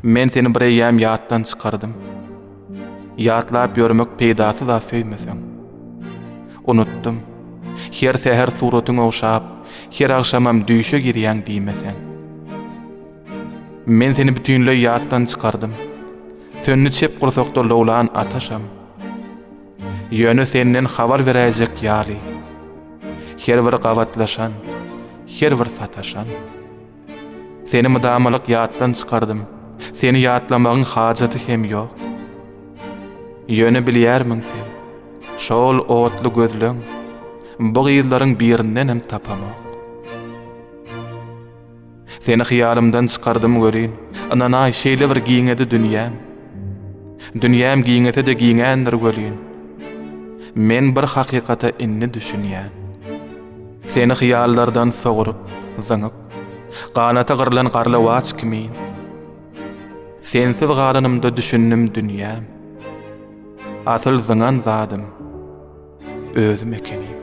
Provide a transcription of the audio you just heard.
Men seni bir eýýäm ýatdan çykardym. Ýatlap ýörmek peýdasy zat söýmeseň. Unutdym. Her säher suratyň ogşap, her agşamam düýşe girýäň diýmeseň. Men seni bütinleý ýatdan çykardym. Söndi çep gursakda lowlan ataşam. Ýöne senden habar beräýjek ýaly. Her bir gabatlaşan, her bir sataşan. Seni mydamalyk ýatdan çykardym, seni ýatlamagyň hajaty hem ýok. Ýöne bilýärmiň sen, şol otly gözleň bu gyzlaryň birindenem tapamok. Seni hyýalymdan çykardym welin, ynanaý şeýle bir giňedi dünýäm. Dünýäm giňese-de giňändir welin, men bir hakykata indi düşünýän. Seni hyýallardan sogrup, zyňyp, Ganaty gyrlan garlawaç kimin. Sensiz galanymda düşündim dünýäm, Asyl zyňan zadym, özüm ekenim.